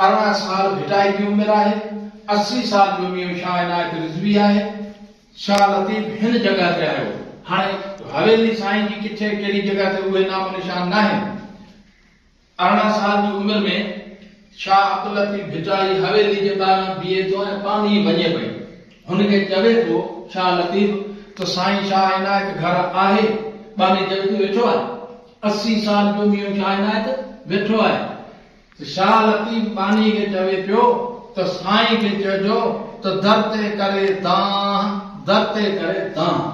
ارڙهن سال ڀٽائي جي عمر آهي، اسي سال جو ميون شاهه عنايت رضوي آهي. شاهه لطيف هن جڳهه تي آيو. هاڻي حويلي سائين جي ڪٿي ڪهڙي جڳهه تي اهي نام و نشان ناهن. ارڙهن سال جي عمر ۾ شاهه عبداللطيف ڀٽائي حويلي جي ٻاهران بيهي ٿو ۽ پاڻ ئي وڃي پئي هن کي چوي ٿو شاهه لطيف ته سائين شاهه عنايت گهر آهي؟ ٻانهي جڳتي ويٺو آهي. اسي سال جو ميون شاهه عنايت ويٺو آهي. شاهه لطيف ٻانهي کي چوي پيو ته سائين کي چئجو ته در تي ڪري دانهن در تي ڪري دانهن.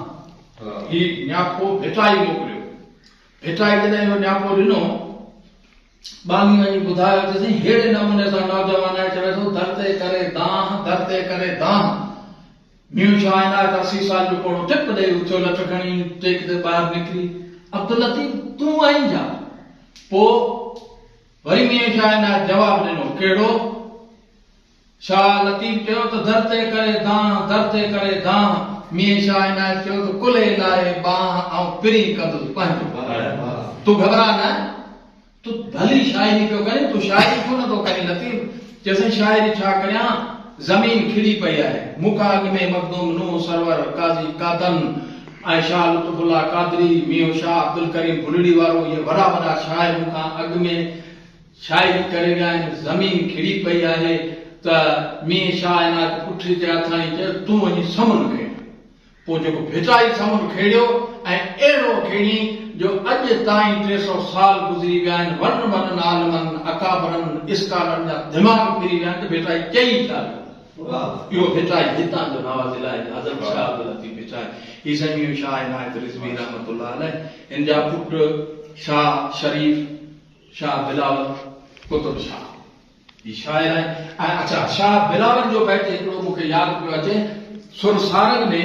هي نياپو ڀٽائي موڪليو. ڀٽائي جڏهن اهو نياپو ڏنو، ٻانهي وڃي ٻڌايو ته سائين ههڙي نموني سان نوجوان آهي چوي ٿو در تي ڪري دانهن در تي ڪري دانهن. نيو چائنا ڪا سي سال جو پوڙهو ٽپ ڏئي اچو لٽ کڻي ٽيڪ تي ٻاهر نڪري عبداللطيف تون آئين جا پوء وري نيو چائنا جواب ڏنو ڪهڙو؟ شاهه لطيف چيو ته در تي ڪري دانهن در تي ڪري دانهن نيو چائنا چيو ته ڪلهي لاهي ٻانهن آئون پرين ڪندس پنهنجو تون گهٻرا نه. تو ڀلي شاعري پيو ڪرين، تون شاعري ڇو نه ٿو ڪرين؟ لطيف چيو سائين شاعري ڇا ڪريان، زمين ڪھڙي پئي آھي، مون کان اڳ ۾ مخدوم نوح سرور، قاضي قادن ۽ شاھ لطف الله قادري، مينھون شاھ عبدالڪريم ڀلڙي وارو اھي وڏا وڏا شاعر مون کان اڳ ۾ شاعري ڪري ويا آھن، زمين ڪھڙي پئي آھي ته مينھن شاھ عنايت پٺري تي آٿاڻي چيس تون وڃي سمن کڻ، پوء جيڪو ڀٽائي سمنڊ کيڙيو ۽ اهڙو کيڙين جو اڄ تائين ٽي سؤ سال گذري ويا آهن، وڏن وڏن عالمن، اڪابرن، اسڪالرن جا دماغ ڦري ويا آهن ته ڀٽائي چئي ڇا ويو؟ اهو ڀٽائي هتان جو نوازل آهي، حضرت شاهه عبداللطيف ڀٽائي. هي سائين ميون شاهه عنايت رضوي رحمة الله عليه هن جا پٽ شاهه شريف، شاهه بلاول، قطب شاهه. هي شاعر آهي ۽ اڇا شاهه بلاول جو بيت هڪڙو مون کي ياد پيو اچي سر سارنگ ۾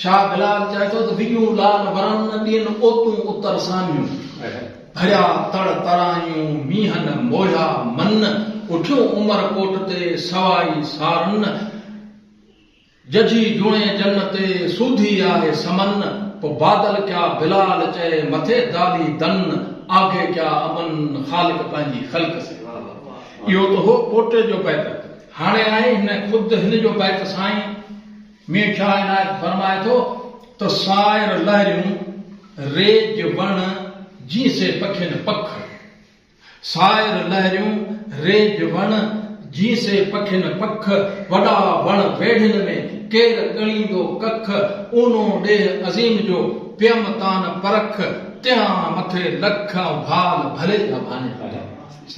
شاهه بلاول چئي ٿو ته وڳيون لال ورن ڏين اوتون اتر سانيون ڀريا تڙ ترايون مينهن موهيا من اٺيون عمر ڪوٽ تي سوائي سارن ججهي جوڻي جن تي سوڌي آهي سمن پو بادل ڪيا بلال چئي مٿي دالي دن آگهي ڪيا امن خالق پنهنجي خلق سي واهه واهه اهو ته هو پوٽي جو بيت هاڻي آهي هن خود هن جو بيت سائين مير شاهه عنايت فرمائي ٿو ته سائر لهريون ريج وڻ جي سي پکين پک سائر لهريون ريج وڻ، جين سي پکين پک، وڏا وڻ ويڙهين ۾، ڪير ڳڻيندو ڪک، اونو ڏيهه عظيم جو، پيم تان پرک، تيان مٿي لک، ڀال ڀلي جا ڀانيا.